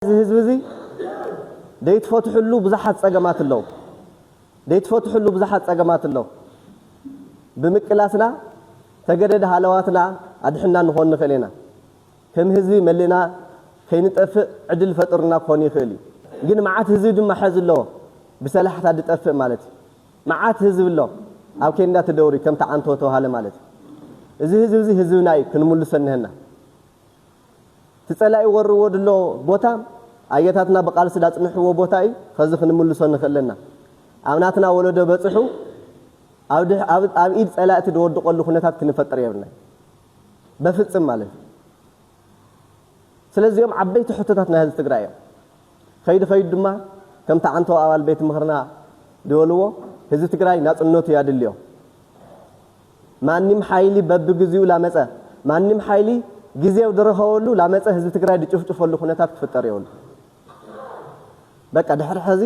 እዚ ህዝቢ እዚ ደይትፈትሕሉ ብዙሓት ጸገማት ኣለው ደይትፈትሕሉ ብዙሓት ጸገማት ኣለው ብምቅላስና ተገደድ ሃለዋትና ኣድሕና ንኾን ንኽእል ኢና ከም ህዝቢ መሊእና ከይንጠፍእ ዕድል ፈጥርና ክኾን ይኽእል እዩ ግን መዓት ህዝቢ ድማ ሐዚ ኣለዎ ብሰላሕታ ድጠፍእ ማለት እዩ መዓት ህዝቢ ኣሎ ኣብ ኬንዳ ትደውሪ ከምቲ ዓንቶ ተባሃለ ማለት እዩ እዚ ህዝቢ እዚ ህዝብና እዩ ክንምልሶ እነሀና እቲ ጸላኢ ወርዎ ድሎ ቦታ ኣያታትና ብቃልሲ ዳጽንሕዎ ቦታ ኢዩ ኸዚ ክንምልሶ ንኽእል ለና ኣብ ናትና ወለዶ በጽሑ ኣብ ኣብ ኢድ ጸላእቲ ድወድቆሉ ኩነታት ክንፈጥር የብልናይ በፍጽም ማለት ኢዩ ስለዚ ኦም ዓበይቲ ሕቶታት ናይ ህዝቢ ትግራይ ኢዮም ኸይዱ ኸይዱ ድማ ከምቲ ዓንተው ኣባል ቤት ምኽርና ድበልዎ ህዝቢ ትግራይ ናጽነቱ ያድልዮ ማንም ሓይሊ በብግዚኡ ላመፀ ማንም ሓይሊ ግዜው ድረኸበሉ ላመፀ ህዝቢ ትግራይ ድጭፍጭፈሉ ኩነታት ክፍጠር የብሉ በቃ ድሕሪ ሕዚ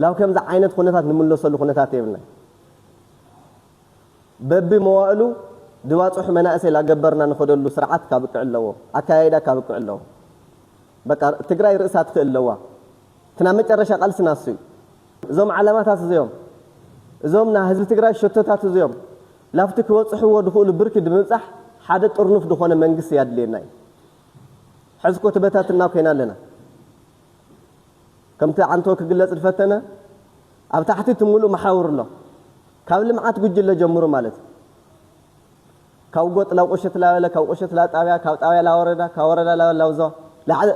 ላብ ከምዚ ዓይነት ኩነታት ንምለሰሉ ኩነታት የብልናይ በቢ መዋእሉ ድባፅሑ መናእሰይ ላገበርና ንኸደሉ ስርዓት ካብቅዕ ኣለዎ ኣካያይዳ ካብቅዕ ኣለዎ በቃ ትግራይ ርእሳ ትክእል ኣለዋ ትናብ መጨረሻ ቃልሲ ናሱይ እዞም ዓላማታት እዚኦም እዞም ናይ ህዝቢ ትግራይ ሸቶታት እዚኦም ላብቲ ክበፅሕዎ ዝኽእሉ ብርኪ ንምብፃሕ ሓደ ጥርኑፍ ዝኾነ መንግስቲ ያድልየና እዩ። ሕዚ እኮ ተበታትና ኮይና ኣለና። ከምቲ ዓንቶ ክግለፅ ዝፈተነ ኣብ ታሕቲ እቲ ሙሉእ መሓውር ኣሎ። ካብ ልምዓት ጉጅለ ጀምሩ ማለት እዩ። ካብ ጎጥ ላብ ቁሽት ላበለ ካብ ቁሽት ላብ ጣብያ ካብ ጣብያ ላብ ወረዳ ካብ ወረዳ ላብ ላብ ዞባ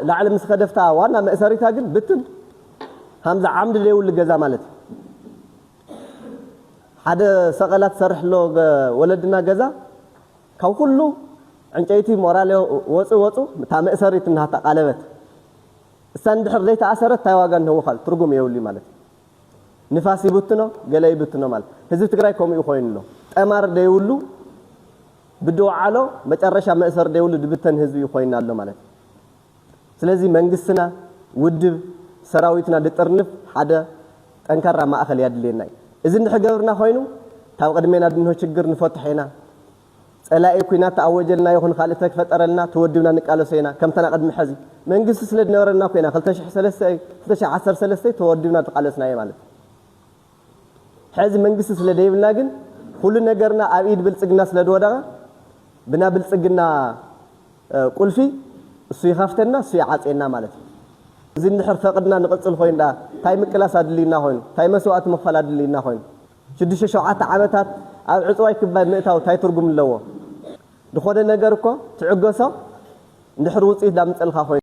ላዕሊ ምስ ከደ ፍታ ዋና መእሰሪታ ግን ብትን ሃምዛ ዓምዲ ደይብሉ ገዛ ማለት ሓደ ሰቀላ ትሰርሕ ኣሎ ወለድና ገዛ ካብ ኩሉ ዕንጨይቲ ሞራሌ ወጹ ወጹ እታ መእሰሪት ናሃታ ቃለበት እሳ ንድሕር ደይተኣሰረት ታይ ዋጋ ንህወካል ትርጉም የብሉይ ማለት ንፋስ ይብትኖ ገለ ይብትኖ ማለት ህዝቢ ትግራይ ከምኡ እዩ ኮይኑ ኣሎ ጠማር ደይብሉ ብድውዓሎ መጨረሻ መእሰሪ ደይብሉ ድብተን ህዝቢ እዩ ኮይና ኣሎ ማለት እዩ ስለዚ መንግስትና ውድብ ሰራዊትና ድጥርንፍ ሓደ ጠንካራ ማእኸል ያድልየና እዩ እዚ እንድሕር ገብርና ኮይኑ ታብ ቅድሜና ድንሆ ችግር ንፈትሖ ኢና ጸላኢ ኩናት ተኣወጀልና ይኹን ካልእ ተፈጠረልና ተወድብና ንቃለሶ ኢና ከምታ ናይ ቅድሚ ሐዚ መንግስቲ ስለ ድነበረና ኮይና ክልተ ሽሕ ሰለስተ እይ ክልተ ሽሕ ዓሰርተ ሰለስተ ተወድብና ድቃለስናዮ ማለት እይ ሐዚ መንግስቲ ስለ ደይብልና ግን ኩሉ ነገርና ኣብ ኢድ ብልጽግና ስለ ድወደቀ ብና ብልጽግና ቁልፊ እሱ ይኸፍተና እሱ ይዓጽየና ማለት እይ እዚ እንድሕር ፈቅድና ንቅጽል ኮይኑ ድኣ ታይ ምቅላስ ኣድልዩና ኮይኑ ታይ መስዋእቲ ምኽፋል ኣድልዩና ኮይኑ ሽዱሽተ ሸውዓተ ዓመታት ኣብ ዕጽዋይ ክባይ ምእታው ታይ ትርጉም ኣለዎ ድኾነ ነገር እኮ ትዕገሶ እንድሕር ውጽኢት ዳምጸልካ ኮይኑ።